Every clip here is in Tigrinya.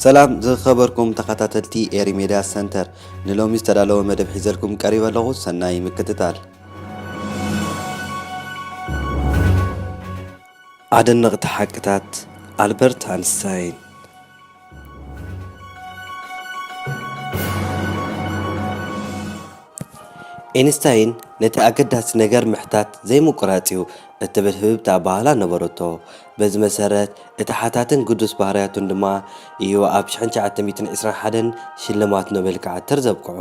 ሰላም ዝኸበርኩም ተኸታተልቲ ኤሪ ሜድያ ሰንተር ንሎሚ ዝተዳለወ መደብ ሒዘልኩም ቀሪበ ኣለኹ ሰናይ ምክትታል ኣደነቕቲ ሓቅታት ኣልበርት ኣንስታይን ኤንስታይን ነቲ ኣገዳሲ ነገር ምሕታት ዘይምቍራጽ እዩ እትብል ህብብቲ ኣበሃህላ ነበረቶ። በዚ መሰረት እቲ ሓታትን ግዱስ ባህርያቱን ድማ እዩ ኣብ ሽሕን ትሽዓተ ሚእትን ዒስራን ሓደን ሽልማት ኖቤል ክዓትር ዘብቅዖ።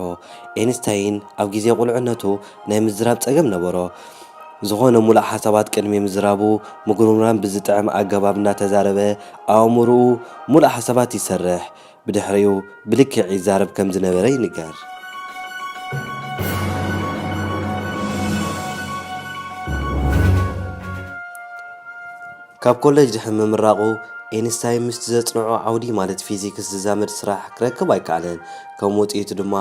ኤንስታይን ኣብ ግዜ ቍልዕነቱ ናይ ምዝራብ ጸገም ነበሮ። ዝዀነ ምሉእ ሓሳባት ቅድሚ ምዝራቡ ምጕርምራም ብዝጥዕም ኣገባብ እናተዛረበ ኣእምሮኡ ምሉእ ሓሳባት ይሰርሕ፣ ብድሕሪኡ ብልክዕ ይዛረብ ከም ዝነበረ ይንገር። ካብ ኮለጅ ድሕሪ ምምራቑ፣ ኤንስታይን ምስቲ ዘጽንዖ ዓውዲ ማለት ፊዚክስ ዝዛመድ ስራሕ ክረክብ ኣይከኣለን፣ ከም ውጽኢቱ ድማ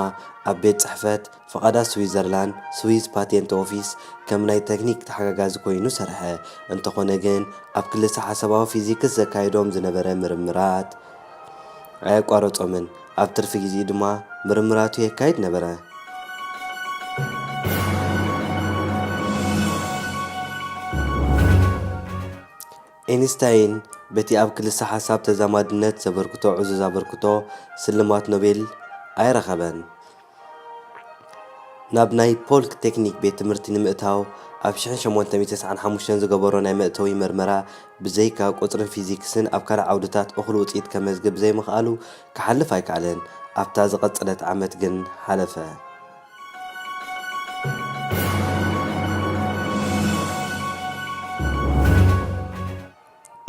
ኣብ ቤት ጽሕፈት ፍቓዳት ስዊዘርላንድ፣ ስዊዝ ፓቴንት ኦፊስ፣ ከም ናይ ተክኒክ ተሓጋጋዚ ኮይኑ ሰርሐ። እንተኾነ ግን ኣብ ክልሰሓሳባዊ ፊዚክስ ዘካይዶም ዝነበረ ምርምራት ኣየቋረጾምን፣ ኣብ ትርፊ ግዜኡ ድማ ምርምራቱ የካይድ ነበረ። ኤንስታይን በቲ ኣብ ክልሰሓሳብ ተዛማድነት ዘበርክቶ ዕዙዝ ኣበርክቶ ስልማት ኖቤል ኣይረኸበን። ናብ ናይ ፖልክ ቴክኒክ ቤት ትምህርቲ ንምእታው ኣብ ሽሕን ሸሞንተ ሚእቲ ተስዓን ሓሙሽተን ዝገበሮ ናይ መእተዊ መርመራ ብዘይካ ቁጽርን ፊዚክስን ኣብ ካልእ ዓውድታት እኹል ውጽኢት ከመዝግብ ብዘይምኽኣሉ ክሓልፍ ኣይከኣለን። ኣብታ ዝቐጸለት ዓመት ግን ሓለፈ።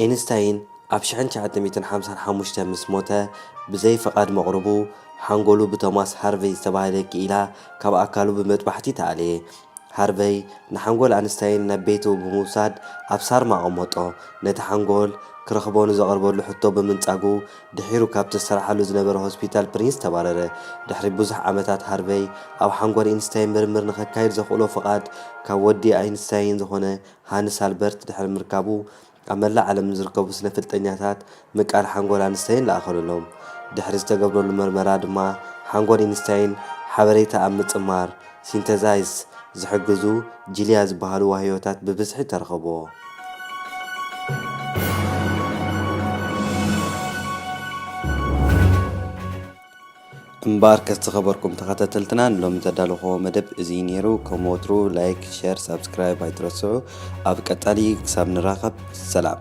ኤንስታይን ኣብ ሽሕን ትሽዓተ ሚእትን ሓምሳን ሓሙሽተን ምስ ሞተ፣ ብዘይ ፍቓድ መቕርቡ፣ ሓንጎሉ ብቶማስ ሃርቨይ ዝተባህለ ክኢላ ካብ ኣካሉ ብመጥባሕቲ ተኣልየ። ሃርቨይ፣ ንሓንጎል ኣንስታይን ናብ ቤቱ ብምውሳድ ኣብ ሳርማ ኣቐመጦ። ነቲ ሓንጎል፣ ክረኽቦ ንዘቐርበሉ ሕቶ ብምንጻጉ፣ ድሒሩ ካብቲ ዝሰርሓሉ ዝነበረ ሆስፒታል ፕሪንስ ተባረረ። ድሕሪ ብዙሕ ዓመታት ሃርቨይ፣ ኣብ ሓንጎል ኤንስታይን ምርምር ንኸካይድ ዘኽእሎ ፍቓድ ካብ ወዲ ኣይንስታይን ዝኾነ ሃንስ ኣልበርት ድሕሪ ምርካቡ፣ ኣብ መላእ ዓለም ንዝርከቡ ስነፍልጠኛታት ምቃል ሓንጎል ኣንስታይን ለኣኸሉሎም። ድሕሪ ዝተገብረሉ መርመራ ድማ፣ ሓንጎል ኢንስታይን ሓበሬታ ኣብ ምጽማር፣ Synthesize፣ ዝሕግዙ ጂሊያ ዝበሃሉ ዋህዮታት ብብዝሒ ተረኸብዎ። እምበኣርከስ ዝኸበርኩም ተኸታተልትና ንሎሚ ዘዳለኹዎ መደብ እዚ ነይሩ። ከም ወትሩ ላይክ፣ ሸር፣ ሳብስክራይብ ኣይትረስዑ። ኣብ ቀጻሊ ክሳብ ንራኸብ ሰላም።